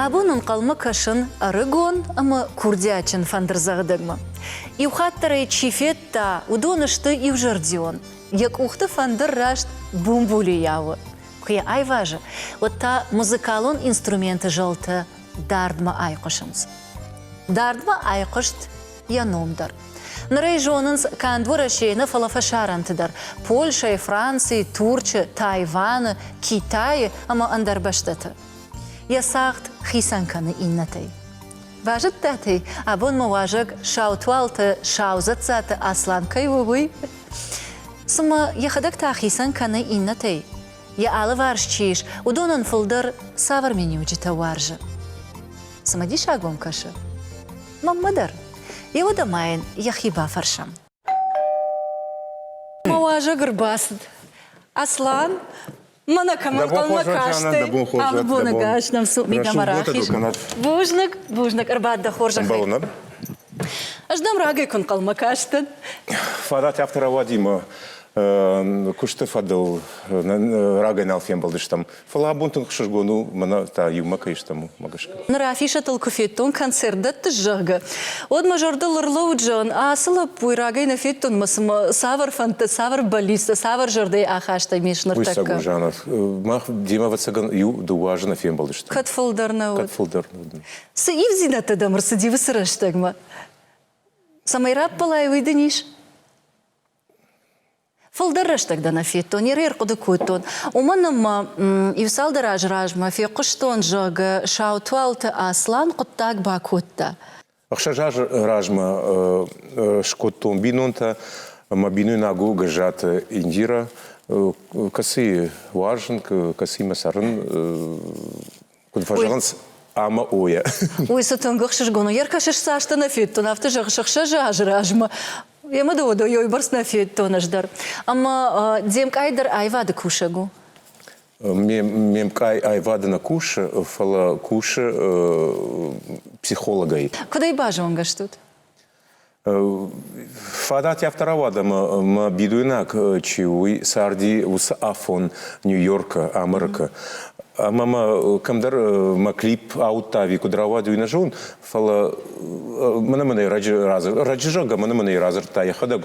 Абон ӕнхъӕлмӕ кӕсын ӕрыгон ӕмӕ курдиатджын фӕндырдзӕгъдӕгмӕ. Иу хатт дӕр ӕй чи федта, уыдон сты иузӕрдион, Йӕ къухты фӕндыр раст бумбулийӕ у. Куы йӕ айвазы, уӕд та музыкалон инструменты зӕлтӕ дардмӕ айхъуысынц. Дардмӕ айхъуыст йӕ ном дӕр. Ныр ӕй зонынц канд Уӕрӕсейы нӕ, фӕлӕ фӕсарӕнты дӕр, Польшӕйы, Францийы, Турчы, Тайваны, Китайы ӕмӕ ӕндӕр бӕстӕты. Йӕ цагъд хицӕн кӕны иннӕтӕй. Базыдтатӕй, абон мӕ уазӕг Саутуалты Саузӕццаты Аслан кӕй у, уый? Цымӕ йӕхӕдӕг та хицӕн кӕны иннӕтӕй? Йӕ алыварс чи ис, уыдонӕн фылдӕр цавӕр миниуджытӕ уарзы? Цымӕдисаг уӕм кӕсы? Мӕнмӕ дӕр. Иуӕдӕ ма йын йӕхи бафӕрсӕм. Мӕ уазӕг ӕрбацыд. Аслан, Mana коммункалмӕ касти бунагас намсу мигама рахиз. Бузныг, бузныг ӕрбадда хорзахӕй. Ӕз дам рагӕй куын хъалмӕ кастӕн. Фадат автора Вадима куысты фӕдыл рагӕй нал фембӕлдыстӕм. Фӕлӕ абон тынг хсызгон у мӕнӕ та иумӕ кӕй стӕм, мӕ гӕсгӕ. Ныр афишӕтыл куы федтон, концерт дӕттыс, зӕгъгӕ, уӕд мӕ зӕрдыл ӕрлӕууыд зӕгъын, ацы лӕппуйы рагӕй нӕ федтон мӕ цымӕ цавӕр фӕндтӕ, цавӕр бӕллицтӕ, цавӕр зӕрдӕйы ахастӕй ме сныртӕккӕ? Уыйсӕг у жанр. Мах демӕ, ӕвӕццӕгӕн, иу-дыууӕ азы нӕ фембӕлдысты. Кӕд фылдӕр нӕ уыд? Кӕд фылдӕр не уыд. Цы ивдзинӕдтӕ дӕм ӕрцыди уыцы рӕстӕгмӕ? Цӕмӕй раппӕлай, уый дын ис? Фылдӕр рӕстӕг дӕ нӕ федтон, ирӕй ӕрхъуыды кодтон. Уымӕн ӕмӕ иу-цалдӕр азы размӕ фехъуыстон, зӕгъгӕ, Саутуалты Аслан хъуыддаг бакодта. Ӕхсӕз азы размӕ скодтон бинонтӕ. Мӕ бинойнаг у Гӕззаты Индирӕ, кӕцыйы уарзын, кӕцыимӕ цӕрын Куыд фӕзӕгъынц, ӕмӕ ойӕ. Уый цы тынг ӕхсызгон у. Йе ркӕсыс цасты нӕ федтон, афтӕ зӕгъ сыхсӕз азы размӕ. Йӕ мыдыуыдо йой бӕрц нӕ федтон ӕз дӕр. Ӕмӕ де мкъай дӕр аивады кусӕг у? Ме мкъай аивады нӕ кусы, фӕлӕ кусы психологӕй. Куыдӕй базонгӕ стут? Фадат афтӕ рауад, ӕмӕ мӕ бидойнаг чи у, уый царди уыцы афон Нью-Йоркы, Америкы. Ӕмӕ мӕ кӕмдӕр мӕ клип ауыдта ӕви куыд рауад, уый нӕ зон, фӕлӕ мӕнӕ-мӕнӕ раджы раджы зӕгъгӕ, мӕнӕ-мӕнӕ радзырдта йӕхӕдӕг.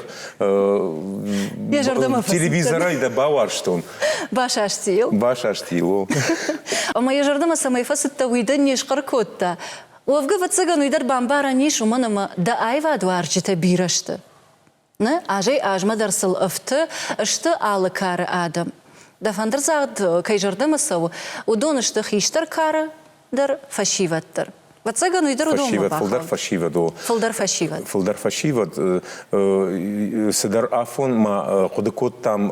Телевизорӕй дӕ бауарзтон. Басастийыл? Басастийыл, о. Ӕмӕ йӕ зӕрдӕмӕ цӕмӕй фӕцыдтӕ, уый дӕ не схъӕр кодта? Уӕвгӕ, ӕвӕццӕгӕн, уый дӕр бамбарӕн ис, уымӕн ӕмӕ дӕ аивадуарзджытӕ бирӕ сты. Нӕ азӕй-азмӕ дӕр сыл ӕфты сты алы кары адӕм. Дӕ фӕндырдзагъд кӕй зӕрдӕмӕ цӕуы, уыдон сты хистӕр кары дӕр фӕсивӕд дӕр. Ӕвӕццӕгӕн, уый дӕр уыдонмӕ фылдӕр фӕсивӕд у. Фылдӕр фӕсивӕд. Фылдӕр фӕсивӕд. Цыдӕр афон ма хъуыды кодтам,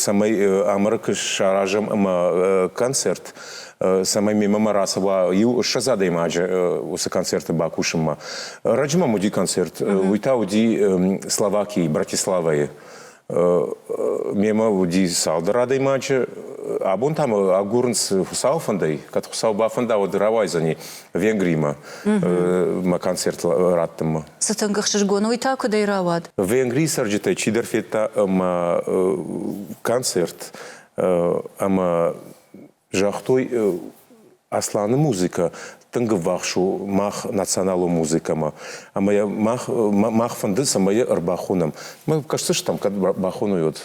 цӕмӕй Амырык саразӕм ӕмӕ концерт цӕмӕй мемӕ ма рацӕуа иу ссӕдз адӕймаджы уыцы концерты бакусынмӕ. Раджы мӕм уыди концерт, уый та уыди Словакийы, Братиславайы. Мемӕ уыди цалдӕр адӕймаджы. Абон та мӕ агурынц Хуыцауы фӕндӕй. Кӕд Хуыцау бафӕнда, уӕд рауайдзӕни Венгримӕ мӕ концерт раттынмӕ. Цы тынг ӕхсызгон уый та куыдӕй рауад? Венгрийы цӕрджытӕй чидӕр федта мӕ концерт ӕмӕ Загътой Асланы музыкӕ тынг ӕввахс у мах националон музыкӕмӕ. Ӕмӕ йӕ мах, мах фӕнды, цӕмӕй йӕ ӕрбахонӕм. Мы кӕсдзыстӕм, кӕд бахоной, уӕд.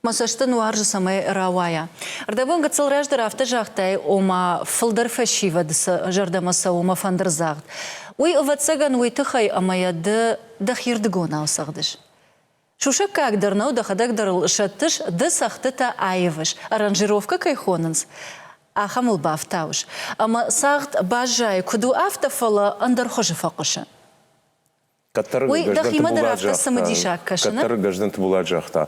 Мӕ цӕст дын уарзы, цӕмӕй рауайа. Рдӕбон гыццыл раздӕр афтӕ загътай, ома фылдӕр фӕсивӕд сӕ зӕрдӕмӕ цӕуы мӕ фӕндырдзагъд. Уый, ӕвӕццӕгӕн, уый тыххӕй, ӕмӕ йӕ ды дӕхирдыгонау цӕгъдыс. Сусӕггаг дӕр нӕу, дӕхӕдӕг дӕр ыл сӕттыс, ды цӕгъдтытӕ аивыс, аранжировкӕ кӕй хонынц, ахӕм ыл бафтауыс, ӕмӕ цагъд баззайы куыд у, афтӕ, фӕлӕ ӕндӕр хуызы фӕхъуысы. Кӕддӕр Уый дӕхимӕ дӕр афтӕ цымыдисаг кӕсы, нӕ? Кӕддӕр Гӕздӕн Тыбулат загъта,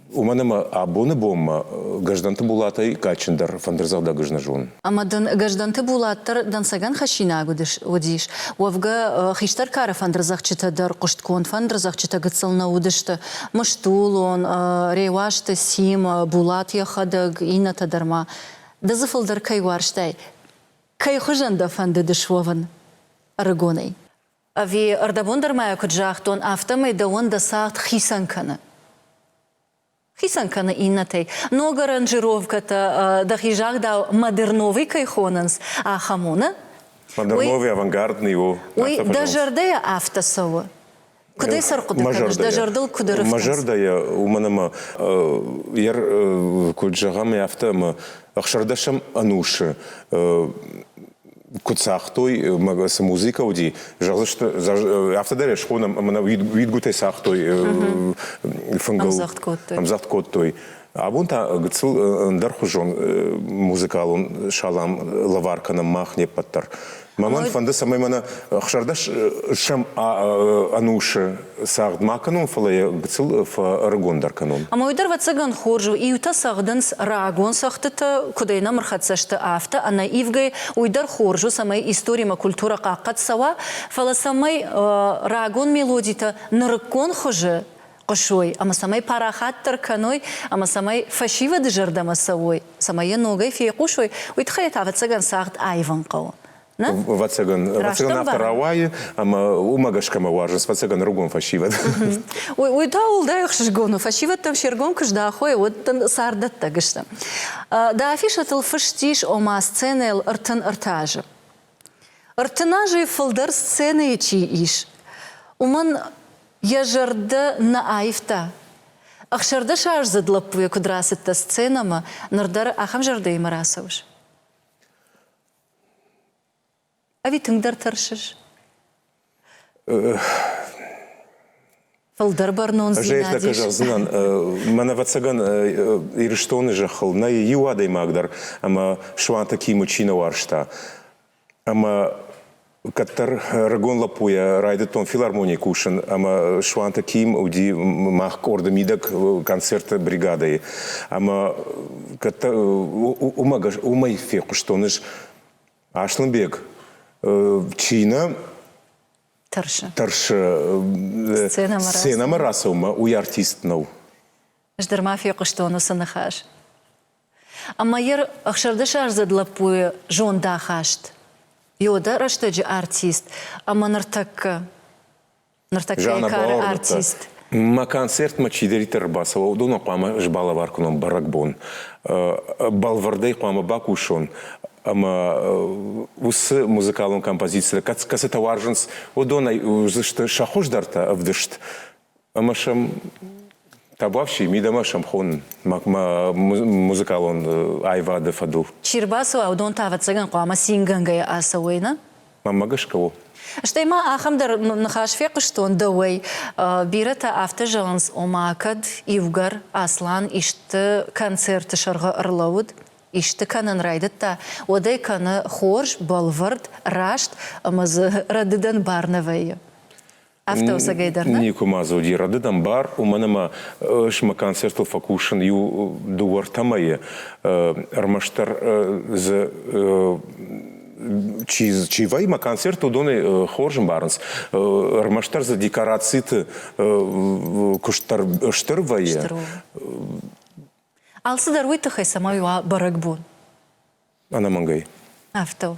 Уымӕн ӕмӕ абоны бонмӕ Гӕздӕнты Булатӕй кадджындӕр фӕндырдзӕгъдӕг ӕзнӕзон. Ӕмӕ дын Гӕздӕнты Булат дӕр дӕнцӕгӕн хӕссинаг уыдис. Уӕвгӕ, хистӕр кары фӕндырдзӕгъдджытӕ дӕр хъуыстгонд фӕндырдзӕгъдджытӕ гыццыл нӕ уыдысты. Мыстулон, Реуазты Сим, Булат йӕхӕдӕг, иннӕтӕ дӕр ма. Ды дзы фылдӕр кӕй уарзтай? Кӕй хуызӕн дӕ фӕндыдыс уӕвын ӕрыгонӕй? Ӕви, ӕрдӕбон дӕр ма йӕ куыд загътон, афтӕмӕй дӕуӕн дӕ цагъд хицӕн кӕны? Хицӕн кӕны иннӕтӕй. Ног аранжировкӕтӕ дӕхи загъдау модерновый кӕй хонынц, ахӕм уыны? Модерновый авангардный у. Уый дӕ зӕрдӕйӕ афтӕ цӕуы? Куыд ӕй сӕрхъуыды кӕныс, дӕ зӕрдыл куыд ӕрыхтынц? Мӕ зӕрдӕйӕ, уымӕн ӕмӕ куыд зӕгъӕм, афтӕ ӕмӕ ӕхсӕрдӕсӕм ӕнусы куыд цагътой, цы музыкӕ уыди, зӕгъдзысты, афтӕ дӕр схонам, ӕмӕ нӕ уидгуытӕй цагътой фынгыл. Ӕмдзӕгъд кодтой. Ӕмдзӕгъд кодтой. Абон та гыццыл ӕндӕрхуызон музыкалон салам лӕвар кӕнӕм мах не ппӕт дӕр. Мӕ мӕн фӕнды, цӕмӕй мӕнӕ хсӕрдӕс сӕм ӕнусы Цагъд ма кӕнон, фӕлӕ йӕ гыццыл фӕӕрыгондӕр кӕнон. Ӕмӕ уый дӕр, ӕвӕццӕгӕн, хорз у. Иутӕ цӕгъдынц рагон цӕгъдтытӕ, куыд ӕнӕмырхӕццӕ сты, афтӕ. Ӕнӕивгӕй, уый дӕр хорз у, цӕмӕй историмӕ культурӕ хъахъхъӕд цӕуа, фӕлӕ цӕмӕй рагон мелодитӕ нырыккон хуызы хъуысой ӕмӕ цӕмӕй парахатдӕр кӕной ӕмӕ цӕмӕй фӕсивӕды зӕрдӕмӕ цӕуой, цӕмӕй йӕ ногӕй фейхъусой, уый тыххӕй та, ӕвӕццӕгӕн, цагъд аивын хъӕуы. Вӕццӕгӕн, вӕццӕгӕн афтӕ рауайы, ӕмӕ уымӕ гӕсгӕ мӕ уарзынц вӕццӕгӕн рыгон фӕсивӕд. Уый та уӕлдай ӕхсызгон у, фӕсивӕдтӕм се ргом куы здахой, уӕд дын царддӕттӕг сты. Дӕ афишӕтыл фыст ис, ома сценӕйыл ӕртын ӕртӕ азы. Ӕртын азӕй фылдӕр сценӕйы чи ис, уымӕн йӕ зӕрдӕ нӕ аивта, ӕхсӕрдӕсаздзыд лӕппуйӕ куыд рацыдтӕ сценӕмӕ, ныр дӕр ахӕм зӕрдӕимӕ рацӕуыс? Ӕви тынгдӕр тӕрсыс? Фылдӕр бӕрнондзинад Жейтнӕ куы зӕгъдзынӕн, мӕнӕ ӕвӕццӕгӕн Ирыстоны зӕххыл нӕй иу адӕймаг дӕр, ӕмӕ Суанты Кимы чи нӕ уарзта. Ӕмӕ Кӕддӕр рагон лӕппуйӕ райдыдтон филармонийы кусын, ӕмӕ Суанты Ким уыди мах къорды мидӕг концерты бригадӕйы. Ӕмӕ кӕддӕр уымӕй фехъуыстон ис Аслӕнбег чи нӕ тӕрсы. Тӕрсы. Сценӕмӕ рацӕуынмӕ уый артист нӕу. Ӕз дӕр ма фехъуыстон уыцы ныхас. Ӕмӕ йӕ ӕхсӕрдӕсаздзыд лӕппуйы зондахаст Иода рӕстӕджы артист ӕмӕ ныртӕккӕ ныртӕккӕйы кары артист. Мӕ концертмӕ чидӕриддӕр ӕрбацӕуа, уыдонӕн хъуамӕ сбалӕвар кӕнон бӕрӕгбон. Бӕлвырдӕй хъуамӕ бакусон ӕмӕ уыцы музыкалон композицитӕ, кӕцытӕ уарзынц, уыдонӕй уыдзысты сӕ хуыздӕртӕ ӕвдыст. ӕмӕ сӕм табуафси, мидӕмӕ сӕм хонын музыкалон аивады фӕдыл. Чи рбацӕуа, уыдон та, ӕвӕццӕгӕн, хъуамӕ цингӕнгӕйӕ ацӕуой, нӕ? Мамӕ гӕсгӕ у. Стӕй ма ахӕм дӕр ныхас фехъуыстон дӕуӕй. Бирӕтӕ афтӕ зӕгъынц, ома, кӕд иугӕр Аслан исты концерты сӕргъы ӕрлӕууыд, исты кӕнын райдыдта, уӕд ӕй кӕны хорз, бӕлвырд, раст ӕмӕ дзы рӕдыдӕн бар нӕ вӕййы. Автоусӕгӕй дӕр нӕ? Никуы ма дзы уыди рӕдыд ӕмбар, уымӕн ӕмӕ ӕмӕ концертыл фӕкусын иу дыууӕ-ӕртӕ мӕйы ӕрмӕстдӕр дзы чи, чи вӕййы концерт, уыдонӕй хорз ӕмбарынц. Ӕрмӕстдӕр дзы декорациты куыст дӕр стыр вӕййы. Стыр у. Алцыдӕр уый тыххӕй цӕмӕй уа бӕрӕгбон? Ӕнӕмӕнгӕй. Афтӕ у.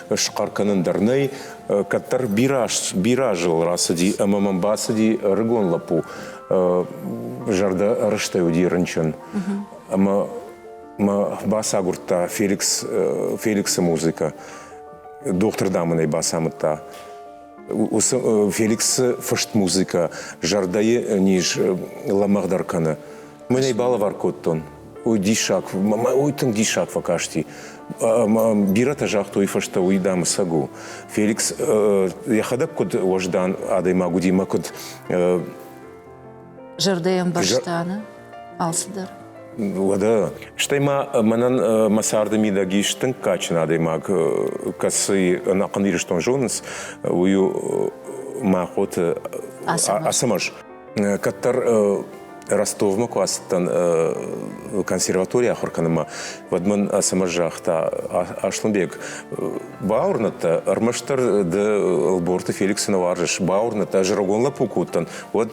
схъӕр кӕнын дӕр нӕй. Кӕддӕр бирӕ, бирӕ азыл рацыди ӕмӕ мӕм бацыди ӕрыгон лӕппу. Зӕрдӕ рыстӕй уыди рынчын. Ӕмӕ мӕ бацагуырдта Феликс, Феликсы музыкӕ. Дохтыр, дам, ын ӕй бацамыдта. уыцы Феликсы фыст музыкӕ зӕрдӕйы низ лӕмӕгъдӕр кӕны. Мын ӕй балӕвар кодтон. Уый диссаг, уый тынг диссаг фӕкасти. Бирӕтӕ загътой фӕстӕ, уый, дам, ӕцӕг у. Феликс йӕхӕдӕг куыд уӕздан адӕймаг уыди мӕ куыд зӕрдӕӕмбӕрста нӕ алцыдӕр. Уӕдӕ, стӕй ма мӕнӕн мӕ царды мидӕг ис тынг кадджын адӕймаг, кӕцы ӕнӕхъӕн Ирыстон зонынц, уый у Мӕхъоты Ацӕмӕз. Кӕддӕр Ростовмӕ куы ацыдтӕн консерваторийы ахуыр кӕнынмӕ, уӕд мын Ацӕмӕз загъта, Аслӕнбег, бауырнӕд дӕ, ӕрмӕстдӕр ды Ӕлборты Феликсы нӕ уарзыс, бауырнӕд дӕ, ӕз рагон лӕппу куы уыдтӕн, Уӕд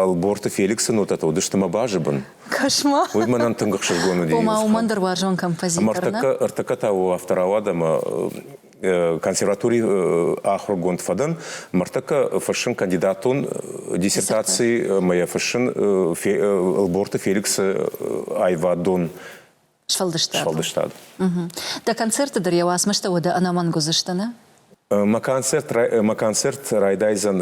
Алборты Феликсӕн уыдтӕ уыдысты мӕ базы бын. Кошмар. Уый мӕнӕн тынг ӕхсызгон уыди. Ома уымӕн дӕр уарзон композитор, нӕ? Ӕртӕккӕ та у автор ауад ӕмӕ консерватори ахуыргонд фӕдӕн. Мӕрдтӕккӕ фыссын кандидатон диссертаци мӕ йӕ фыссын Ӕлборты Феликсы аивадон Сфӕлдыстад. Сфӕлдыстад. Угу. Дӕ концерты дӕр йӕ уацмыстӕ уӕдӕ ӕнӕмӕнг уыдзысты, нӕ? Мӕ концерт, мӕ концерт райдайдзӕн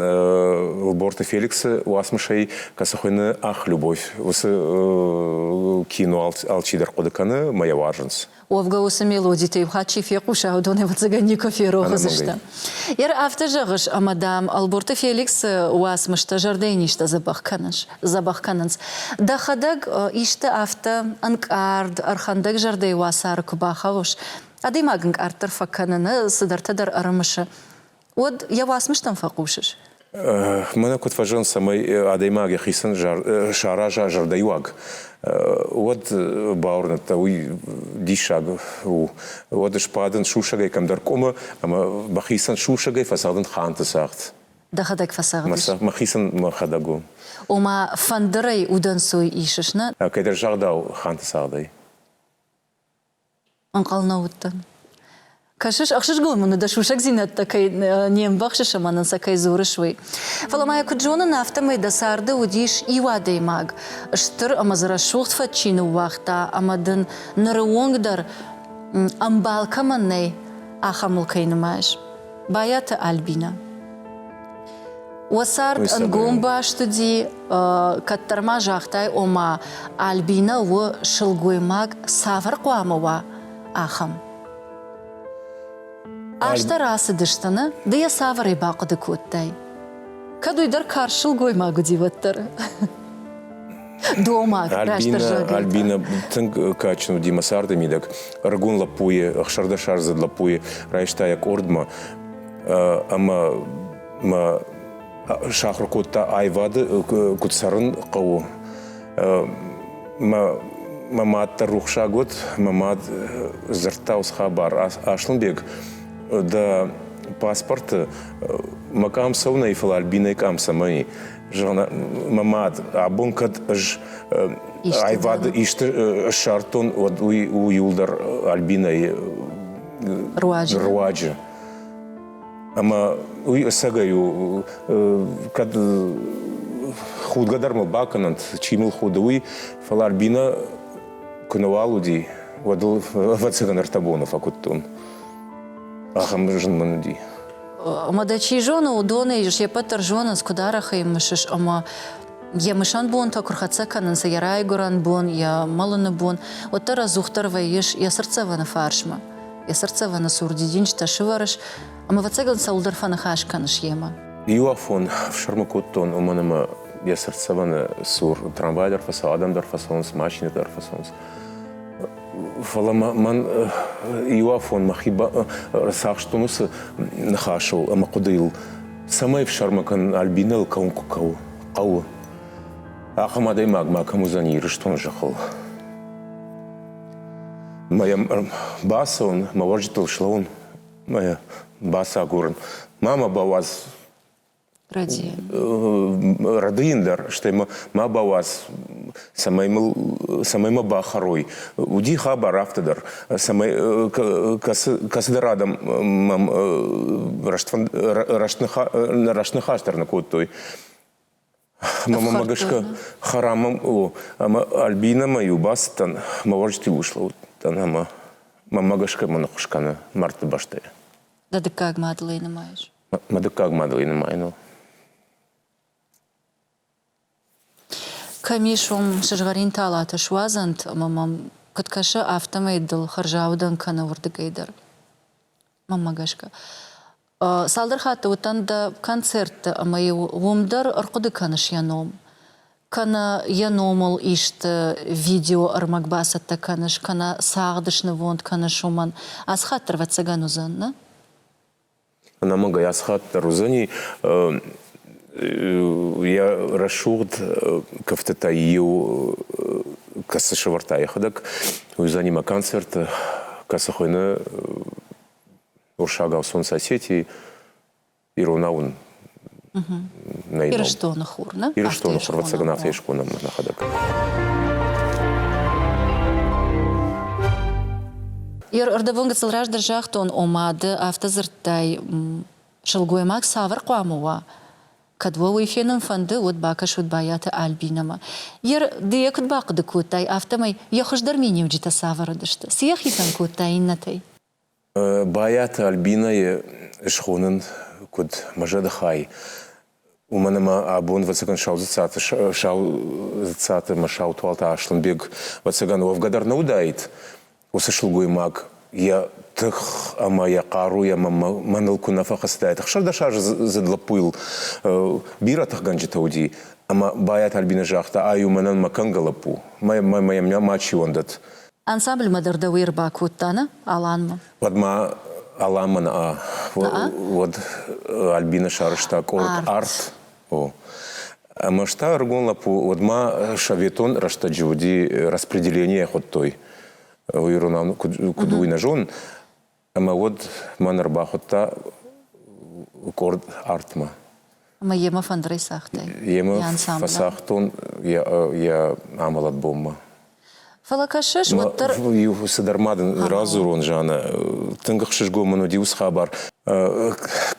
Лборты Феликсы уацмысӕй, кӕцы хуыйны Ах, любовь. Уыцы кино алчидӕр хъуыды кӕны мӕ йӕ уарзынц. Уӕвгӕ уыцы мелодитӕ иухатт чи фехъуса, уыдон, ӕвӕццӕгӕн, никуы ферох уыдзысты. Йӕ афтӕ зӕгъыс, ӕмӕ, дам, Лборты Феликсы уацмыстӕ зӕрдӕйы низтӕ дзӕбӕх кӕнынц. дзӕбӕх кӕнынц. Дӕхӕдӕг исты афтӕ ӕнкъард, ӕрхӕндӕгзӕрдӕйы уацары куы бахауыс, адӕймаг ӕнкъарддӕр фӕкӕныны цыдӕртӕ дӕр ӕрымысы, уӕд йӕ уацмыстӕм фӕхъусыс? Мӕнӕ куыд фӕзӕгъын, цӕмӕй адӕймаг йӕхицӕн сараза зӕрдӕйыуаг, уӕд бауырныдта, уый диссаг у. Уӕд сбадын сусӕгӕй кӕмдӕр къуымы ӕмӕ бӕхицӕн сусӕгӕй фӕцӕгъдын ханты цагъд. Дӕхӕдӕг фӕцӕгъдис? Мӕхицӕн мӕхӕдӕг у. Ома, фӕндырӕй удӕнцой исыс, нӕ? Кӕйдӕр загъдау, ханты цагъдӕй. Ӕнхъӕл нӕ уыдтӕн. Кӕсыс, ӕхсызгон мын уыд, дӕ сусӕгдзинӕдтӕ кӕй не мбӕхсыс ӕмӕ нын сӕ кӕй дзурыс, уый. Фӕлӕ ма йӕ куыд зонын, афтӕмӕй дӕ царды уыдис иу адӕймаг, стыр ӕмӕ дзы рӕсугъд фӕдджи ныууагъта ӕмӕ дын, ныры онг дӕр ӕмбал кӕмӕн нӕй, ахӕм мыл кӕй нымайыс. Байаты Альбинӕ. Уӕ цард ӕнгом баст уыди, кӕддӕр ма загътай, ома Альбинӕ у сылгоймаг цавӕр хъуамӕ уа, ахӕм. Азтӕ рацыдысты, нӕ? Ды йӕ цавӕрӕй бахъуыды кодтай? Кӕд уый дӕр карз сылгоймаг уыди, уӕддӕр. Дома, Альбина, Альбина тынг кадджын уыди мӕ царды мидӕг. Ӕрыгон лӕппуйы, ӕхсӕрдӕсаздзыд лӕппуйы райста йӕ къордмӕ ӕмӕ мӕ сахуыр кодта аивады, куыд цӕрын хъӕуы. Мӕ мӕ мад дӕр рухсаг уыд, мӕ мад дзырдта уыцы хабар. Аслӕнбег, дӕ паспорты мӕ къам цӕуынӕй, фӕлӕ Альбинӕйы къам цӕмӕн и? Зӕгъын, мӕ мад, абон кӕд ӕз аивады исты ссардтон, уӕд уый у иуылдӕр Альбинӕйы руаджы. руаджы. Ӕмӕ уый ӕцӕгӕй у, кӕд худгӕ дӕр мыл бакӕнӕнт, чи мыл худы, уый, фӕлӕ Альбинӕ куы нӕуал уыди, уӕд ыл ӕвӕццӕгӕн ӕртӕ боны фӕкуыдтон. Ахӕм зын мын уыди. Ӕмӕ дӕ чи зоны, уыдонӕй се ппӕт дӕр зонынц, куыд арӕх ӕй мысыс ӕмӕ йӕ мысӕн бонтӕ куы рхӕццӕ кӕнынц, йӕ райгуырӕн бон, йӕ мӕлыны бон, уӕддӕр ӕдзухдӕр вӕййыс йӕ цыртдзӕвӕны фарсмӕ. Йӕ цыртдзӕвӕны цур дидинджытӕ сывӕрыс, ӕмӕ ӕвӕццӕгӕн цӕуылдӕр фӕныхас кӕныс йемӕ. Иу афон фсрмы кодтон, уымӕн ӕмӕ йӕ цыртдзӕвӕны цур трамвай дӕр фӕцӕуы, адӕм дӕр фӕцӕуынц, машинӕтӕ дӕр фӕцӕуынц. Фӕлӕ мӕн иуафон мӕхи ӕрцахстон уыцы ныхасыл ӕмӕ хъуыдыйыл, цӕмӕй фсӕрмы кӕнын Альбинӕйыл кӕуын куы хъӕуы. Ахӕм адӕймаг макӕм уыдзӕн Ирыстоны зӕххыл. Мӕ йӕм ӕрбацӕуын, мӕ уӕрджытыл слӕууын, мӕ бацагурын. Ма мӕ бауадз Рады йын дӕр, стӕй ма бауадз, цӕмӕй мыл, цӕмӕй мӕ бахӕрой. Уыди хабар афтӕ дӕр, цӕмӕй кӕцыдӕр адӕм мӕм рӕстныхас дӕр нӕ кодтой. Мӕмӕ гӕсгӕ хӕрамӕм у, ӕмӕ Альбинӕмӕ-иу бацыдтӕн, мӕ уӕрджытыл услӕууыдтӕн ӕмӕ мӕмӕ гӕсгӕ мӕ ныххуыс кӕны мӕрдты бӕстӕйӕ. Дӕ дыккаг мадылӕй нымайыс? Мӕ дыккаг мадӕлы нымайын у. Кӕм ис уым сызгъӕрин талатӕ суадзӕнт ӕмӕ мӕм куыд кӕсы, афтӕмӕй дыл хӕрзаудӕн кӕны уырдыгӕй дӕр. Мӕнмӕ гӕсгӕ. Цалдӕр хатты уыдтӕн дӕ концертты, ӕмӕ-иу уым дӕр ӕрхъуыды кӕныс йӕ ном. Кӕнӕ йӕ номыл исты видеоӕрмӕг бацӕттӕ кӕныс, кӕнӕ цагъд снывонд кӕныс уымӕн. Ацы хатт дӕр ӕвӕццӕгӕн уыдзӕн, нӕ? Ӕнӕмӕнгӕй асхат дӕр уыдзӕни йӕ рӕсугъд кӕфтытӕй иу, кӕцы сӕвӕрдта йӕхӕдӕг, уыдзӕни мӕ концерты, кӕцы хуыйны уырыссагау сон соседей, иронау ын Ирыстоны хур, нӕ? Ирыстоны хур, ӕвӕццӕгӕн афтӕ искон ӕмӕ нӕхӕдӕг. Ӕрдӕбон гыццыл раздӕр загътон, ома ды афтӕ дзырдтай, сылгоймаг цавӕр хъуамӕ уа? Кӕд уӕ уый фенын фӕнды, уӕд бакӕсут Байаты Альбинӕмӕ. Ды йӕ куыд бахъуыды кодтай, афтӕмӕй йӕ хуыздӕр миниуджытӕ цавӕр уыдысты? Цы йӕ хицӕн кодта иннӕтӕй? Байаты Альбинӕйы схонын куыд мӕ зӕдыхай, уымӕн ӕмӕ абон ӕвӕццӕгӕн Сау дзыццаты Саудзыццаты ӕмӕ Саутуалты Аслӕнбег ӕвӕццӕгӕн уӕвгӕ дӕр нӕ уыдаид, уыцы сылгоймаг йӕ тых ӕмӕ йӕ хъаруйӕ мӕныл куы нӕ фӕхӕцыдаид. Ӕхсӕрдӕс азы зыд лӕппуйыл бирӕ тыхгӕнджытӕ уыди, ӕмӕ Байаты Альбинӕ загъта, ай у мӕнӕн мӕ кӕнгӕ лӕппу, мӕ йӕм мачи уӕндӕд. Ансамбльмӕ дӕр дӕуе ӕрбакодта, нӕ, Аланмӕ? Уӕд ма Аланмӕн а, уӕд Альбинӕ сарызта къорд Арт. Ӕмӕ стӕ ӕрыгон лӕппу уӕдмӕ советон рӕстӕджы уыди распределение хуыдтой. Уый ирон куыд уый нӕ зон, Ӕмӕ уӕд мӕн ӕрбахуыдта къорд артмӕ. Ӕмӕ йемӕ фӕндырӕй цагътай? Йемӕ фӕсагътон йӕ, йӕ амӕлӕт бонмӕ. Фӕлӕ кӕсыс, уӕддӕр. Иу цыдӕр ма дын радзурон, Жаннӕ. Тынг ӕхсызгон мын уыди уыцы хабар.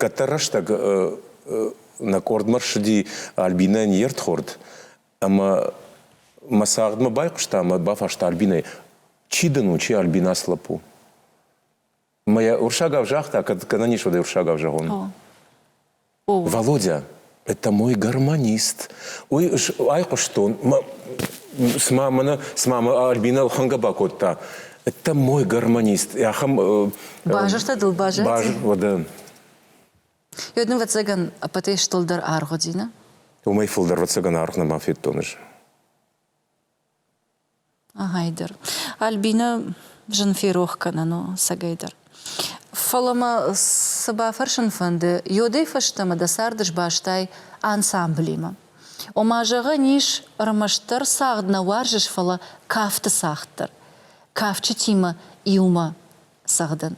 Кӕддӕр рӕстӕг нӕ къордмӕ рсыди Альбинӕ не рдхорд. Ӕмӕ мӕ цагъдмӕ байхъуыста ӕмӕ бафарста Альбинӕй, чи дын у, чи Альбина с лӕппу? Мӕ йӕ урсагау загъта, кӕд гӕнӕн ис, уӕд ӕй урсагау зӕгъон. О. О. Володя, это мой гармонист. Уый айхъуыстон, цыма мӕнӕ цыма мӕ Альбинӕ лхӕнгӕ бакодта. Это мой гармонист. Ахӕм... Базыртӕ дыл баззад? Баз... Йод нын вӕццӕгӕн ӕппӕтӕй стылдӕр аргъ уыди, нӕ? Уымӕй фылдӕр вӕццӕгӕн аргъ нӕма федтон ӕз. Ӕгайдӕр. Альбинӕ зын ферох кӕнӕн у сӕгӕйдӕр. Фӕлӕ мӕ цы бафӕрсын фӕнды, йодӕй фӕстӕмӕ дӕ царды сбастай ансамблимӕ. Ома, зӕгъӕн ис, ӕрмӕстдӕр цагъд нӕ уарзыс, фӕлӕ кафты цагъд дӕр. Кафджытимӕ иумӕ цӕгъдын.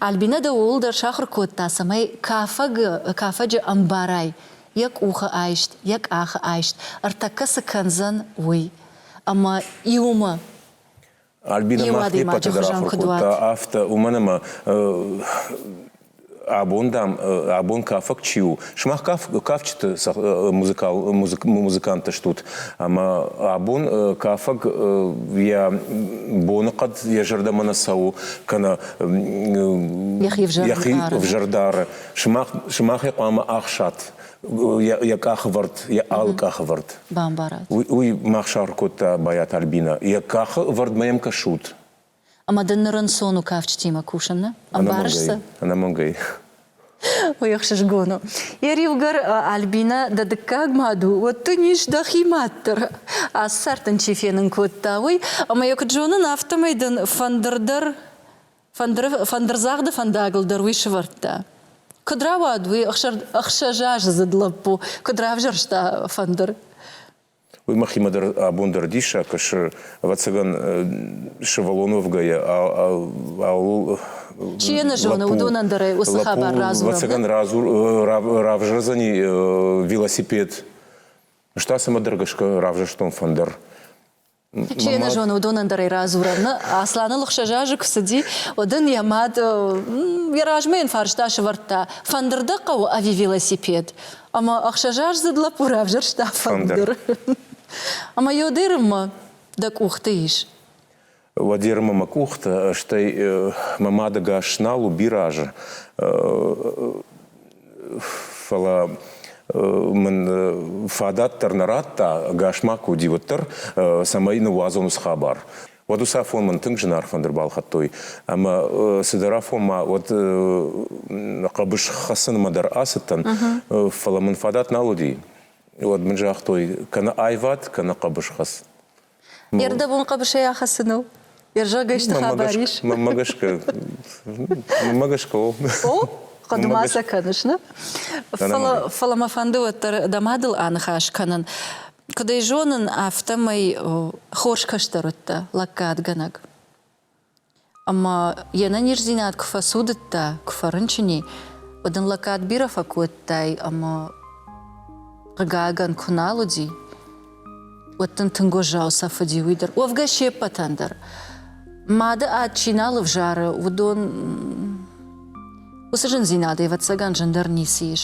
Альбинӕ дӕ ууыл дӕр сахуыр кодта, цӕмӕй кафӕгы кафӕджы ӕмбарай йӕ къухы айст, йӕ къахы айст, ӕртӕккӕ цы кӕндзӕн, уый. Ӕмӕ иумӕ. Альбинӕ мах не ппӕты дӕр ахуыр кодта афтӕ, уымӕн ӕмӕ абон, дам, абон кафӕг чи у, сымах каф, кафджыты музыкал, музык, музыканттӕ стут, ӕмӕ абон кафӕг йӕ боныхъӕд йӕ зӕрдӕмӕ нӕ цӕуы, кӕнӕ йӕхи ӕвзӕрдары. Сымах, сымахӕй хъуамӕ ахсат йӕ къахывӕрд, йӕ алы къахывӕрд. Бамбарат. Уый, уый мах сахуыр кодта Байат Альбина. Йӕ къахы вӕрдмӕ йӕм кӕсут. Ӕмӕ дын ныр ӕнцон у кафджытимӕ кусын, нӕ? Ӕмбарыс цы? Ӕнӕмӕнгӕй. Уый ӕхсызгон у. Йӕ риуыгӕр Альбинӕ дӕ дыккаг мад у, уӕд дын ис дӕхи мад дӕр. Ацы цард дын чи фенын кодта, уый. Ӕмӕ йӕ куыд зонын, афтӕмӕй дын фӕндыр дӕр, фӕндыры, фӕндырдзагъды фӕндагыл дӕр уый сывӕрдта. Куыд рауад уый ӕхсӕз азы дзыд лӕппу, куыд равзӕрста фӕндыр? Уый махимӕ дӕр абон дӕр диссаг кӕсы. Ӕвӕццӕгӕн, сывӕллон уӕвгӕйӕ ауыл Чи йӕ нӕ зоны, уыдонӕн дӕр уыцы хабар радзурӕм. Ӕвӕццӕгӕн, равзардзӕни велосипед. Ӕз та цӕмӕдӕр гӕсгӕ равзӕрстон фӕндыр. Чи йӕ нӕ зоны, уыдонӕн дӕр ӕй радзурӕм. Нӕ, Асланыл ӕхсӕз азы куы цыди, уӕд ын йӕ мад йӕ размӕ йын фарста сывӕрдта, фӕндыр дӕ хъӕуы ӕви велосипед? Ӕмӕ ӕхсӕзаздзыд лӕппу равзӕрста фӕндыр. Ӕмӕ Ёдерыммӕ дӕ къухты ис? Уӕдерымы мӕ къухты, стӕй мӕ мадӕгас нал у бирӕазы. Фӕлӕ мын фадат дӕр нӕ радта, ӕгас ма куы уыди, уӕддӕр, цӕмӕй ныууадзон уыцы хабар. уӕд уыцы афон мын тынг зынаргъ фӕндыр балхӕдтой. Ӕмӕ цыдӕр афонмӕ уӕд хъӕбыс хӕцынмӕ дӕр ацыдтӕн, фӕлӕ мын фадат нал уыди. Уӕд мын загътой, кӕнӕ аивад, кӕнӕ хъӕбысхӕц. Ӕрдӕбон хъӕбысӕй ахӕссыныл Йӕ зӕргӕйсты хабар ис? Мӕнмӕ гӕсгӕ, мӕнмӕ гӕсгӕ о. О? Хъуыды ма сӕ кӕныс, нӕ? Фӕлӕ, фӕлӕ мӕ фӕнды уӕддӕр дӕ мадыл аныхас кӕнын. Куыд ӕй зонын, афтӕмӕй хорз кӕстӕрыдтӕ лӕггадгӕнӕг. Ӕмӕ йе нӕниздзинад куы фӕцудыдта, куы фӕрынчыни, уӕд ын лӕггад бирӕ фӕкодтай ӕмӕ, хъыгагӕн, куы нал уыди, уӕд дын тынг уӕззау сӕф уыди уый дӕр. Уӕвгӕ се ппӕтӕн дӕр. Мады ад чи нал ӕвзары, уыдон уыцы зындзинад, ӕвӕццӕгӕн, зындӕр ницы ис.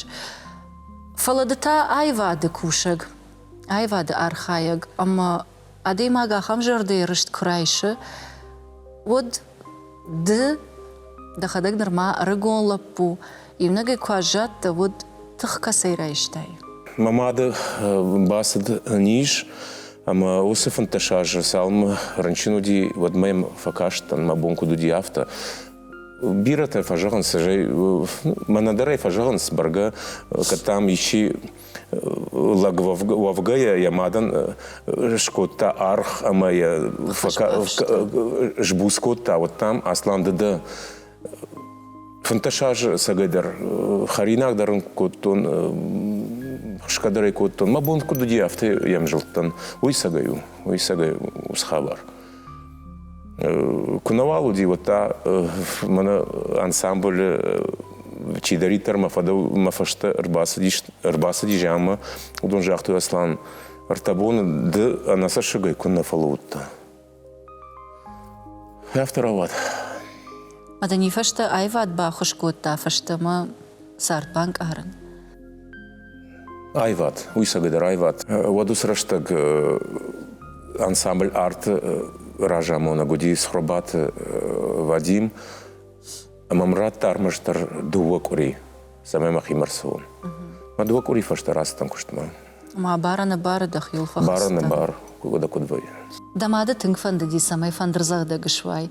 Фӕлӕ ды та аивады кусӕг, аивады архайӕг ӕмӕ адӕймаг ахӕм зӕрдӕйы рыст куы райсы, уӕд ды дӕхӕдӕг нырма ӕрыгон лӕппу, иунӕгӕй куы аззадтӕ, уӕд тых кӕцӕй райстай? Мӕ мады бацыд низ ӕмӕ уыцы фынддӕс азы цалынмӕ рынчын уыди, уӕдмӕ йӕм фӕкастӕн, мӕ бон куыд уыди, афтӕ. Бирӕтӕ фӕзӕгъынц, мӕнӕ дӕр ӕй фӕзӕгъынц, бӕргӕ, кӕд дам исчи лӕг уӕвгӕйӕ йӕ мадӕн скодта арх ӕмӕ йӕ сбуц кодта, уӕд дам Аслан ды дӕ фынддӕс азы цӕгайдӕр хӕринаг дӕр ын кодтон, хсгӕ дӕр ӕй кодтон. Мӕ бон куыд уыди, афтӕ йӕм зылдтӕн. Уый сӕгӕй у, уый сӕгӕй у схабар. Куы науал уыди, уӕд та мӕнӕ ансамблы чидӕриддӕр мӕ фӕдыл мӕ фӕстӕ ӕрбацыдис, ӕрбацыди зианмӕ, уыдон загътой, Аслан, ӕртӕбоны ды ӕнӕцӕссыгӕй куыннӕ фӕлӕудтӕ. Афтӕ рауад. Ӕдӕни фӕстӕ аивад баххуыс кодта фӕстӕмӕ цард банкъарын. Айват, уисӕгӕдӕр Айват, уӕд уыцы рӕстӕг ансамбль арты разамонӕг уыди Цхуырбаты Вадим, ӕмӕ мын радта ӕрмӕстдӕр дыууӕ къуыри, цӕмӕй мӕхимӕ рцӕуон. Мӕ дыууӕ къуыри фӕстӕ рацыдтӕн куыстмӕ. Ма бара-нӕбары дӕ хил фӕхӕцдӕ? Бара-нӕбар, куыд куыд вӕййы. Дӕ мады тынг фӕндыди, цӕмӕй фӕндырдзӕгъдӕг суай.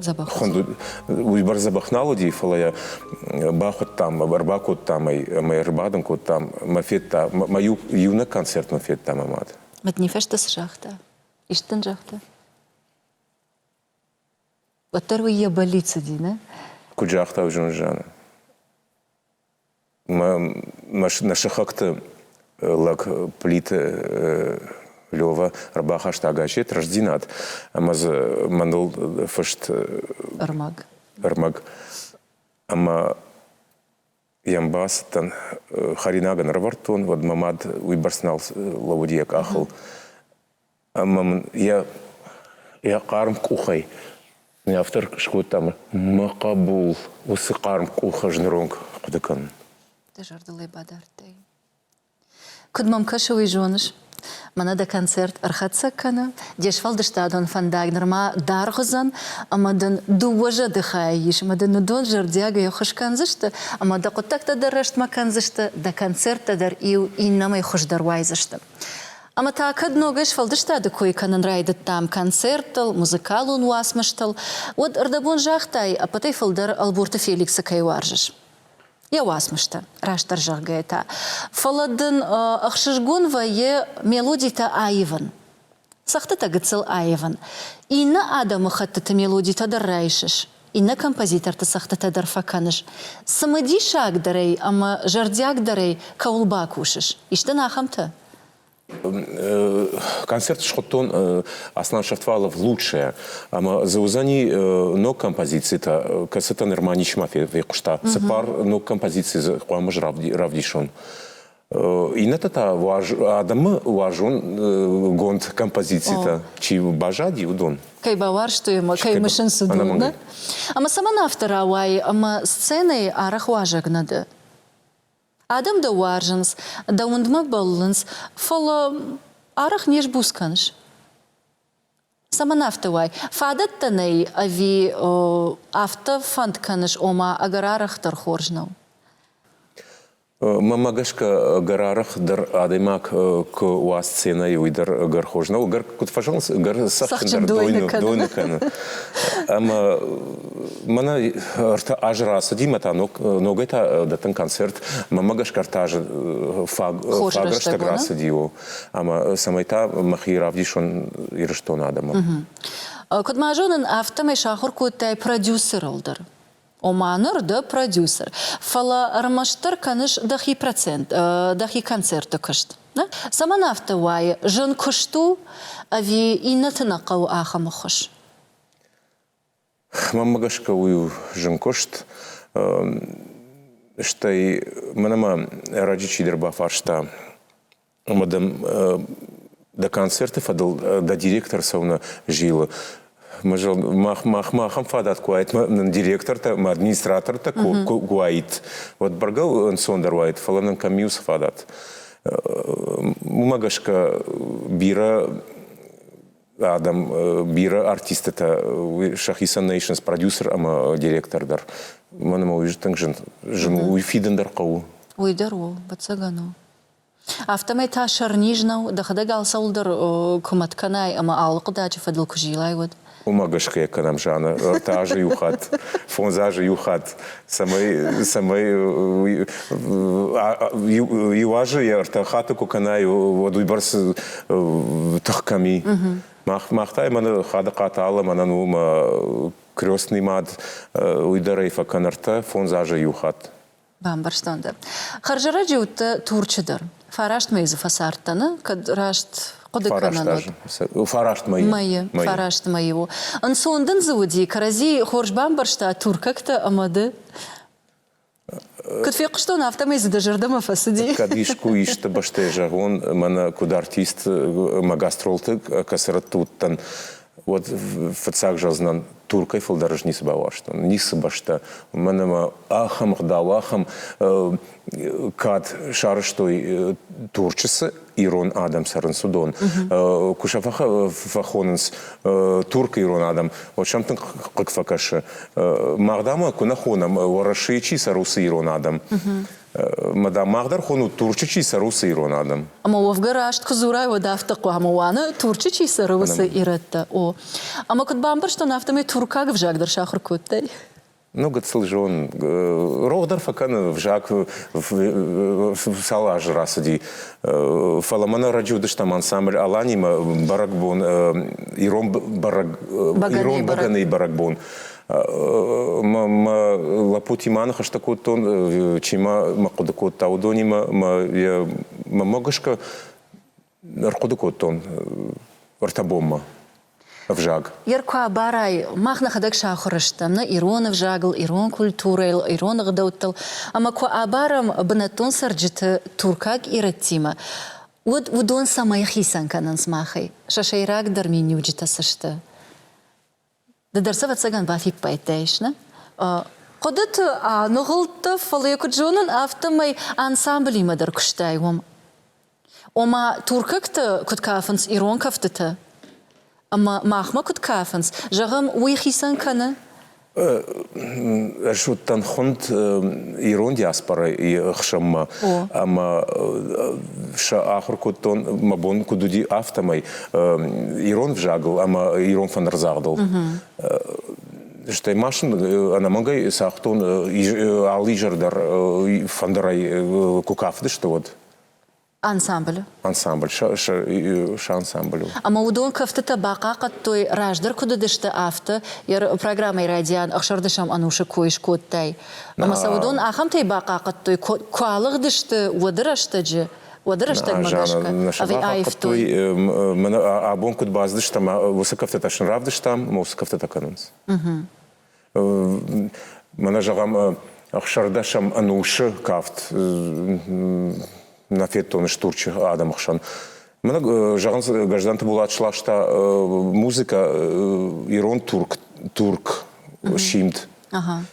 Дзӕбӕх. Хуынд уыйбӕрц дзӕбӕх нал уыди, фӕлӕ йӕ бахуыдтам, ӕрбакодтам ӕй ӕмӕ ӕрбадын кодтам. Мӕ федта, мӕ иу, иунӕг концерт мын федта мӕ мад. Мӕ дни фӕстӕ цы загъта? Ис дын загъта? Уӕддӕр уый йӕ бӕллиц уыди, нӕ? Куыд загъта Зонзанӕ? Нӕ сыхӕгты лӕг Плиты Лева ӕрбахаста гасет «Рӕстдзинад» ӕмӕ дзы мӕныл фыст ӕрмӕг. ӕрмӕг. Ӕмӕ йӕм бацыдтӕн, хӕринаг ын ӕрӕвӕрдтон, уӕд мӕ мад уыйбӕрц нал лӕууыд йӕ къахыл. Ӕмӕ мын йӕ йӕ хъарм къухӕй ме автор скодта ӕмӕ мӕ хъӕбул уыцы хъарм къух ӕз ныронг ахъуыды кӕнын. Дӕ зӕрдыл ӕй бадардтай? Куыд мӕм кӕсы, уый зоныс? Мӕнӕ дӕ концерт ӕрхӕцӕг кӕны, де сфӕлдыстадон фӕндаг нырма даргъ уыдзӕн, ӕмӕ дын дыууӕ зӕдыхайы ис, ӕмӕ дын уыдон зӕрдиагӕй ӕххуыс кӕндзысты, ӕмӕ дӕ хъуыддӕгтӕ дӕр рӕстмӕ кӕндзысты, дӕ концерттӕ дӕр иу иннӕмӕй хуыздӕр уайдзысты. Ӕмӕ та кӕд ногӕй сфӕлдыстады кой кӕнын райдыдтам концерттыл, музыкалон уацмыстыл, уӕд ӕрдӕбон загътай, ӕппӕтӕй фылдӕр Ӕлборты Феликсы кӕй уарзыс. Йӕ уацмыстӕ, растдӕр зӕгъгӕ та. Фӕлӕ дын ӕхсызгон вӕййы мелодитӕ аивын. Цӕгъдтытӕ гыццыл аивын. Иннӕ адӕмыхӕттыты мелодитӕ дӕр райсыс, иннӕ композиторты цӕгъдтытӕ дӕр фӕкӕныс. Цымыдисагдӕрӕй ӕмӕ зӕрдиагдӕрӕй кӕуыл бакусыс? Ис дын ахӕмтӕ? Концерт схуыдтон Аслан Шертвалов Лучшее, ӕмӕ дзы уыдзӕни ног композицитӕ, кӕцытӕ нырма ничма фехъуыста. Цыппар ног композици дзы хъуамӕ равдисон. Иннӕтӕ та адӕмы уарзонгонд композицитӕ чи баззади, уыдон. Кӕй бауарзтой ӕмӕ кӕй мысынц уыдон, да? Ӕмӕ цӕмӕн афтӕ рауайы, ӕмӕ сценӕйы арӕх уазӕг нӕ дӕ? Адӕм дӕ уарзынц, дӕ уындмӕ бӕллынц, фӕлӕ арӕх не сбуц кӕныс. Цӕмӕн афтӕ уай? Фадӕттӕ нӕй ӕви афтӕ фӕнд кӕныс, ома ӕгӕр арӕх дӕр хорз нӕу? Мӕмӕ гӕсгӕ ӕгӕр арӕх дӕр адӕймаг куы уа сценӕйы, уый дӕр ӕгӕр хорз нӕу. Ӕгӕр куыд фӕзӕгъынц, ӕгӕр цӕхджындӕр дойны кӕны. Ӕмӕ мӕнӕ ӕртӕ азы рацыди, мӕ та ногӕй та дӕттын концерт. Мӕмӕ гӕсгӕ ӕртӕ азы фаг рӕстӕг рацыди. ӕмӕ цӕмӕй та мӕхи равдисон Ирыстоны адӕмы. Куыд ма зонын, афтӕмӕй сахуыр кодтай продюсерыл дӕр. Ома ныр дӕ продюсер, фӕлӕ ӕрмӕстдӕр кӕныс дӕхи процент, дӕхи концерты куыст. Цӕмӕн афтӕ уайы? Зын куыст у, ӕви иннӕты нӕ хъӕуы ахӕм ӕххуыс? Мӕнмӕ гӕсгӕ уый у зын куыст. Стӕй мӕн ӕмӕ ӕрӕджы чидӕр бафарста ӕмӕ дӕм дӕ концерты фӕдыл дӕ директор цӕуыны зилы. Махмӕ ахӕм фадат куы уаид, нын директортӕ ӕмӕ администратортӕ куы уаид, уӕд бӕргӕ ӕнцондӕр уаид, фӕлӕ нын кӕм и уыцы фадат? Уымӕ гӕсгӕ бирӕ Адӕм бирӕ артисттытӕ сӕхицӕн нӕ исынц продюсер ӕмӕ директор дӕр. Мӕн ӕмӕ уый тынг зын, зын у, уый фидын дӕр хъӕуы. Уый дӕр у, ӕвӕццӕгӕн у. Афтӕмӕй та сӕрниз нӕу, дӕхӕдӕг алцӕуылдӕр куымӕт кӕнай ӕмӕ алы хъуыдаджы фӕдыл куы зилай, уӕд. Уымӕ гӕсгӕ кӕнӕм зианы ӕртӕ азы иу хатт, фондз азы иу хатт, цӕмӕй цӕмӕй иуазы йӕ ӕртӕ хаты куы кӕнай уӕд уыйбӕрц тых кӕми мах та мӕн хадыхъаты алы мӕнӕн у мӕ крестный мад уый дӕрӕй фӕкӕн ӕртӕ фондз азы иу хатт бамбӕрстон дӕ хӕрзӕрӕджы уыдтӕ турчы дӕр Фарастмӕ дзы фӕцард дӕны, кӕд раст хъуыды кӕнӕм. Фараст мӕйы. Мӕйы, фараст мӕйы у. Ӕнцон дын дзы уыди, кӕрӕдзи хорз бамбӕрста туркӕгтӕ ӕмӕ ды. Куыд фехъуыстон, афтӕмӕй дзы дӕ зӕрдӕмӕ фӕцыди. Кӕд искуы исты бӕстӕйы зӕгъон, мӕнӕ куыд артист мӕ гастролты кӕцырӕтты уыдтӕн, уӕд фыццаг зӕгъдзынӕн, Туркӕй фылдӕр ӕз ницы бауарзтон, ницы бӕстӕ, уымӕн ӕмӕ ахӕм ӕгъдау, ахӕм кад сарӕзтой Турчысы ирон адӕм цӕрынц уыдон. Куы сӕ фӕхонынц турк-ирон адӕм, уӕд сӕм тынг хъыг фӕкӕсы. Мах, дам, куы нӕ хонӕм, Уӕрӕсейы чи цӕры, уыцы ирон адӕм. Мадам, мах дӕр хонут Турчы чи цӕры, уыцы ирон адӕм. Ӕмӕ уӕвгӕ раст куы дзурай, уӕд афтӕ хъуамӕ уӕны, Турчы чи цӕры, уыцы ирӕттӕ. О. Ӕмӕ куыд бамбӕрстон, афтӕмӕй туркаг ӕвзаг дӕр сахуыр кодтай? Ну, гыццыл зон. Рох дӕр фӕкӕны, взаг цал азы рацыди. Фӕлӕ мӕн ӕрӕджы уыдыстӕм ансамбль Алани-мӕ бӕрӕгбон, ирон бӕрӕг, ирон бӕгӕныйы бӕрӕгбон. мӕ лӕппути ма ныхӕстӕ кодтон, чи мӕ хъуыды кодта, уыдонимӕ мӕ гӕсгӕ ӕрхъуыды кодтон ӕртӕ бонмӕ ӕвзаг. Йер куы абарай, мах нӕхӕдӕг сахуыр стӕм нӕ ирон ӕвзагыл, ирон культурӕйыл, ирон ӕгъдӕуттыл, ӕмӕ куы абарӕм бынӕттон цӕрджыты туркаг ирӕттимӕ, уӕд уыдон цӕмӕй хицӕн кӕнынц махӕй, сӕ сӕйрагдӕр миниуджытӕ цы сты? Ды дӕр сӕвӕццӕгӕн бафиппайдтаис, нӕ? Хъуыдыты аныгъуылдтӕ, фӕлӕ, куыд зонын, афтӕмӕй ансамблимӕ дӕр куыстай уым. Ома, туркӕгты куыд кафынц ирон кӕфтытӕ ӕмӕ махмӕ куыд кафынц, зӕгъӕм, уый хицӕн кӕны? Ӕз уыдтӕн хуынд ирон диаспорайы ӕхсӕнмӕ ӕмӕ сӕ ахуыр кодтон, мӕ бон куыд уыди, афтӕмӕй. ирон взагыл ӕмӕ ирон фӕнырдзагъдыл. Стӕй ма сын ӕнӕмӕнгӕй цагътон алы изӕр дӕр фӕндырӕй куы кафыдысты, уӕд. Ансамбль. Ансамбль, сӕ ансамбль у. Ӕмӕ уыдон кӕфтытӕ бахъахъӕдтой, раздӕр куыд уыдысты, афтӕ. Йӕ программӕйы райдиан ӕхсӕрдӕсӕм ӕнусы кой скодтай. Ӕмӕ сӕ уыдон ахӕмтӕй бахъахъӕдтой, куы алыгъдысты, уӕды рӕстӕджы. уӕды рӕстӕгмӕ гӕсгӕ ӕви аивтой мӕнӕ абон куыд баздыстам уыцы кӕфтытӕ сын равдыстам мӕ уыцы кӕфтытӕ кӕнынц мӕнӕ зӕгъӕм ӕхсӕрдӕсӕм ӕнусы кафт нӕ федтон стурчы адӕмы хсӕн мӕнӕ зӕгъынц гӕзданты болат сласта музыкӕ ирон турк турк симд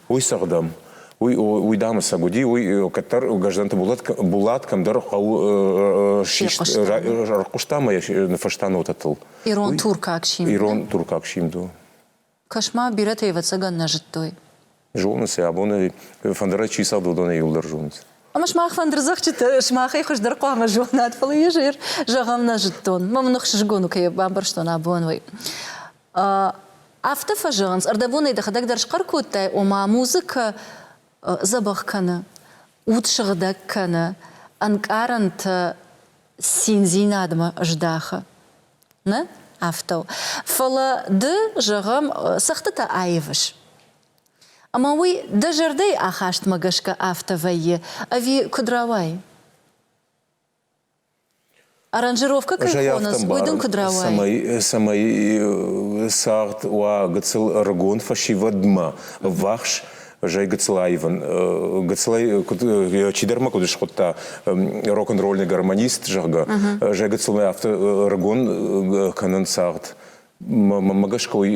Уый цыгъдӕм, уый, уый дамысӕг уыди, уый кӕддӕр Гӕзданты Булат, Булат кӕмдӕр хъӕу сист, ӕрхъуыста мӕ фӕстӕ нотӕтыл. Ирон туркаг симд. Ирон туркаг симд у. Кӕс-ма, бирӕтӕ ӕвӕццӕгӕн нӕ зыдтой. Зонынц йӕ, абоны фӕндырӕй чи цӕуы, уыдонӕй иуылдӕр зонынц. Ӕмӕ сымах фӕндырдзӕгджыты сымахӕй хуыздӕр хъуамӕ зонат, фӕлӕ йӕ зӕр зӕгъӕн нӕ зыдтон. Мӕм ныхсызгон у, кӕй бамбӕрстон абон уый. Афтӕ фӕзӕгъынц, ӕрдӕбонӕй дӕхӕдӕг дӕр схъӕр кодтай, ома музыкӕ дзӕбӕх кӕны, уд сыгъдӕг кӕны, ӕнкъарӕнтӕ циндзинадмӕ здахы. Нӕ афтӕ у. Фӕлӕ ды, зӕгъӕм, цӕгъдтытӕ аивыс. Ӕмӕ уый дӕ зӕрдӕйы ахастмӕ гӕсгӕ афтӕ вӕййы, ӕви куыд рауайы? Аранжировкӕ кӕй хонынц, уый дын куыд рауайы? Цӕмӕй, цӕмӕй цагъд уа гыццыл ӕрыгон фӕсивӕдмӕ ӕввахс, зӕй гыццыл аивын. Гыццылӕй куыд, чидӕрмӕ куыд скъуыдта рок-н-ролльный гармонист, зӕгъгӕ, зӕй гыццылмӕ афтӕ ӕрыгон кӕнын цагъд. мӕ гӕсгӕ уый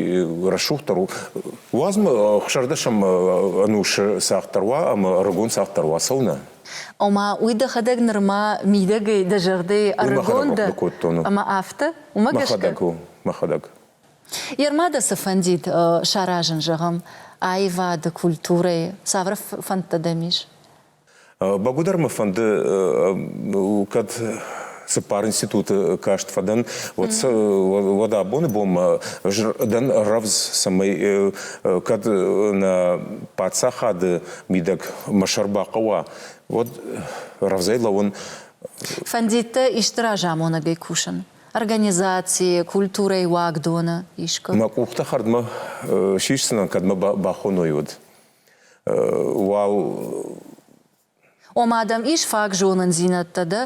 рӕсугъддӕр у. Уадзмӕ хуссардӕсӕм ӕнусы цагъддӕр уа ӕмӕ ӕрыгон цагъддӕр уа цӕуынӕ? Ома, уый дӕхӕдӕг нырма мидӕгӕй дӕ зӕрдӕйы ӕрыгон дӕ, ӕмӕ афтӕ? Уымӕ гӕсгӕ? Мӕхӕдӕг у, мӕхӕдӕг. Ермӕ дӕ цы фӕндид саразын, зӕгъӕм, аивады, культурӕйы, цавӕр фӕндтӕ дӕм ис? Бӕгуыдӕр мӕ фӕнды, кӕд цыппар институты каст фӕдӕн, уӕд, уӕд абоны бонмӕ дӕн рӕвдз, цӕмӕй кӕд нӕ паддзахады мидӕг мӕ сӕр бахъӕуа, уӕд рӕвдзӕй лӕууын. Фӕндид дӕ исты разамонӕгӕй кусын? Организацийы, культурӕйы уагдоны, искуы? Мӕ къухтӕ хӕрдмӕ сисдзынӕн, кӕд мӕ бахоной уӕд. Уал Ома дӕм ис фаг зонындзинӕдтӕ дӕ,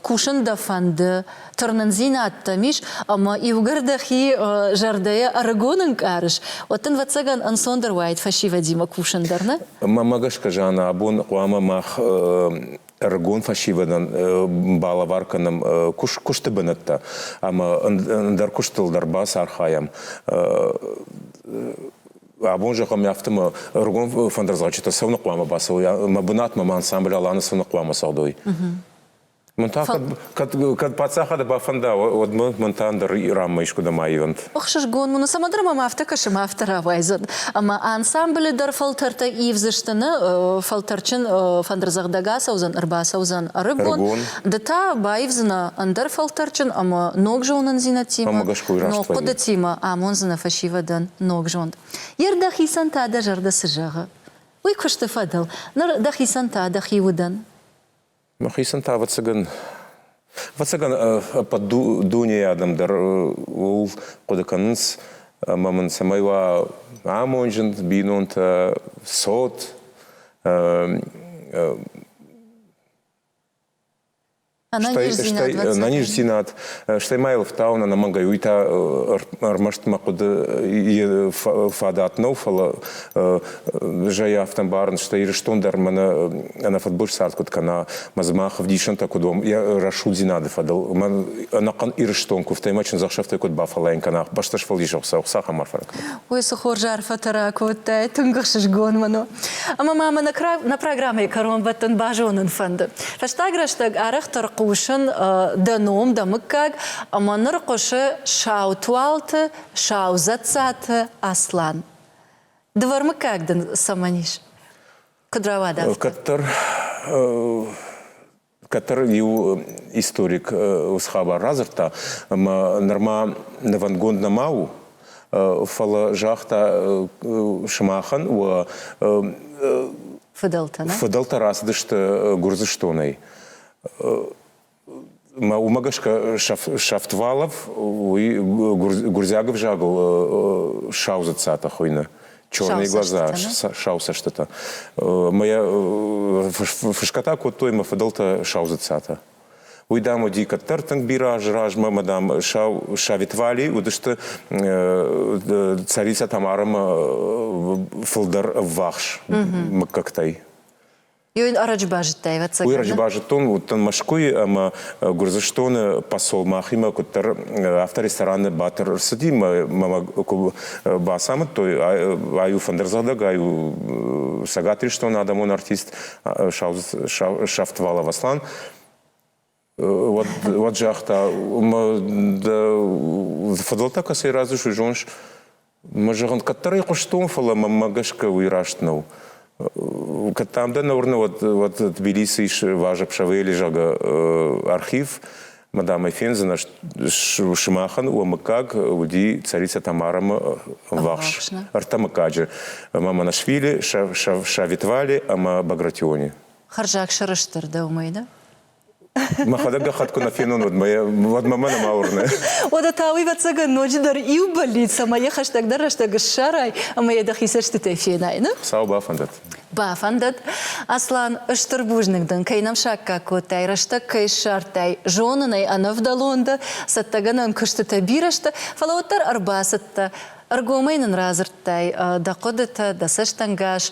кусын дӕ фӕнды, тырнындзинад дӕм ис, ӕмӕ иугӕр дӕхи зӕрдӕйӕ ӕрыгон ӕнкъарыс, уӕд дын ӕвӕццӕгӕн ӕнцондӕр уаид фӕсивӕдимӕ кусын дӕр, нӕ? Мӕнмӕ гӕсгӕ, Жанна, абон хъуамӕ мах ӕрыгон фӕсивӕдӕн балӕвар кӕнӕм куысты бынӕттӕ ӕмӕ ӕндӕр куыстыл дӕр бацархайӕм Абон зӕгъӕм афтӕ мӕ ӕргом фӕндырдзаучытӕ цӕуыны хъуамӕ бацӕуой мӕ бынатмӕ мӕ ансамбль Аланы цӕуыны хъуамӕ цӕудой. Мӕн та, кӕд, кӕд паддзахады бафӕнда, уӕд мӕ мӕн та ӕндӕр Иранмӕ искуыдӕм аивӕнт. Ӕхсызгон уын у, Самадры мӕм афтӕ кӕсы, афтӕ рауайдзӕн. Ӕмӕ ансамблы дӕр фӕлтӕртӕ ивдзысты, нӕ фӕлтӕрджын фӕндырдзӕгъдӕг ацӕудзӕн, ӕрбацӕудзӕн ӕрыгон, Ды та баивдзынӕ ӕндӕр фӕлтӕрджын ӕмӕ ног зонындзинӕдтимӕ, ног хъуыдытимӕ, амондзынӕ фӕсивӕдӕн ног зонд. Йе рдӕхицӕн та дӕ зӕрдӕ цы зӕгъы? Уый куысты фӕдыл ныр дӕхицӕн та дӕхи удӕн. Мӕхицӕн та, ӕвӕццӕгӕн, ӕвӕццӕгӕн ӕппӕт дунейы адӕм дӕр ууыл хъуыды кӕнынц, ӕмӕ мын цӕмӕй уа амонджын бинонтӕ, цот, стӕй ӕнӕниздзинад, стӕй ма йыл фтауын ӕнӕмӕнгӕй уый та ӕрмӕст мӕ хъуыды фадат нӕу, фӕлӕ зӕй афтӕ ӕмбарын, стӕй Ирыстон дӕр мӕнӕ ӕнӕ фыдбылыз цард куыд кӕна, мӕ дзымах ӕвдисӕнтӕ куыд уӕм йӕ рӕсугъддзинады фӕдыл, мӕн ӕнӕхъӕн Ирыстон куывтӕй мӕ чындзӕхсӕвтӕй куыд бафӕлайын кӕна, бӕстӕ сфӕлдисӕг Хуыцау цахӕм арфӕ кӕна. Уый цы хорз арфӕтӕ ракодтай, тынг ӕхсызгон мын у. Ӕмӕ ма мӕ на программӕйы кӕронбӕттӕн базонын фӕнды. Фӕстаг рӕстӕг арӕхдӕр хъусын дӕ ном, дӕ мыггаг, ӕмӕ ныр хъуысы сау туалты, сау дзӕццаты Аслан. Дывӕрмыггаг дын цӕмӕн ис? Куыд рауад афтӕ? Кӕддӕр который иу историк с хабар радзырдта, ӕмӕ нырма нывӕндгонд нӕма у, фӕлӕ загъта сымахӕн уӕ фыдӕлтӕ фыдӕлтӕ рацыдысты Гуырдзыстонӕй. Уымӕ гӕсгӕ Шафтвалов уый гуырдзиаг ӕвзагыл саузыцатӕ хуыйны. черные глаза, сау цӕстытӕ. Мӕ фысгӕтӕ кодтой мӕ фыдӕлтӕ саузыцатӕ. Уый, дам, уыди кӕддӕр тынг бирӕ азы размӕ, мӕ, дам, сау савитвали уыдысты царицӕтӕм ӕрӕмӕ фылдӕр ӕввахс мыггӕгтӕй. Уый ӕрӕджы базыдтай, ӕвӕццӕгӕн? Уый ӕрӕджы базыдтон, уыдтӕн Мӕскуыйы ӕмӕ Гуырдзыстоны посол мӕхимӕ куыддӕр афтӕ рестораны Батыр ӕрцыди мӕ мӕ бацамыдтой, ай у фӕндырдзӕгъдӕг, ай у Цӕгат Ирыстоны адӕмон артист Сафтвалов Аслан. уӕд, уӕд загъта, дӕ фыдӕлтӕ кӕцӕй разы суй, зоныс? Мӕ зӕгъын, кӕддӕр ӕй хъуыстон, фӕлӕ мӕнмӕ гӕсгӕ уый раст нӕу. Кӕд дам дӕ нӕ уырны, уӕд, уӕд Тбилисы ис Важебшавели, зӕгъгӕ, архив, мадам ӕй фендзынӕ сымахӕн, уӕ мыггаг уыди царица Тамарамы ӕввахс ӕртӕ мыггаджы, Маманашвили, Шавитвали ӕмӕ Багратиони. Хӕрзаг сӕрыстыр дӕ уымӕй да? Мӕхӕдӕг гӕххӕтт куы нӕ фенон, уӕд мӕ, уӕд мӕмӕ нӕма уырны. Уӕдӕ та уый вӕццӕгӕн ноджыдӕр иу бӕллиц, ӕмӕ йӕ хӕстӕгдӕр рӕстӕг ссарай ӕмӕ йӕ дӕхи цӕстытӕй фенай, ны? Сау бафӕндӕд. Бафӕндӕд, Аслан, ыстыр бузныг дын, кӕй нӕм саккаг кодтай, рӕстӕг кӕй ссардтай, зонын ӕй, ӕнӕвдӕлон дӕ, цӕттӕгӕнӕн куыстытӕ бирӕ сты, фӕлӕ уӕддӕр ӕрбацыдтӕ, ӕргомӕй нын радзырдтай дӕ хъуыдытӕ, дӕ цӕстӕнгас,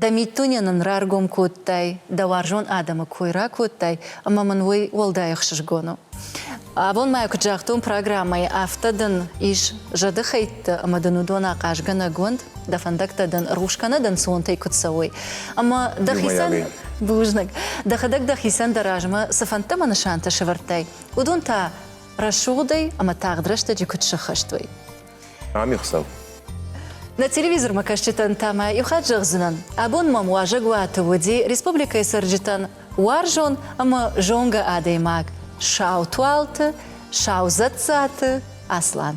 Дӕ миддуне нын раргом кодтай, дӕ уарзон адӕмы кой ракодтай, ӕмӕ мын уый уӕлдай ӕхсызгон у. Абон ма куыд загътон программӕйы, афтӕ дын ис зӕдыхӕйттӕ ӕмӕ дын уыдон ахъазгӕнӕг уӕнт, дӕ фӕндӕгтӕ дын рухс кӕнӕ дӕнцонтӕй куыд цӕуой. Ӕмӕ дӕхицӕн бузныг, дӕхӕдӕг дӕхицӕн дӕ размӕ цы фӕндтӕ ӕмӕ нысантӕ сӕвӕрдтай, уыдон та рӕсугъдӕй ӕмӕ тагъд рӕстӕджы куыд сӕххӕст уой. Ӕмихсӕв. Нӕ телевизормӕкӕсджытӕн та мӕ иу хатт зӕгъдзынӕн, абон мӕм уазӕгуаты уыди республикӕйы цӕрджытӕн уарзон ӕмӕ зонгӕ адӕймаг Саутуалты Саузӕдзаты Аслан.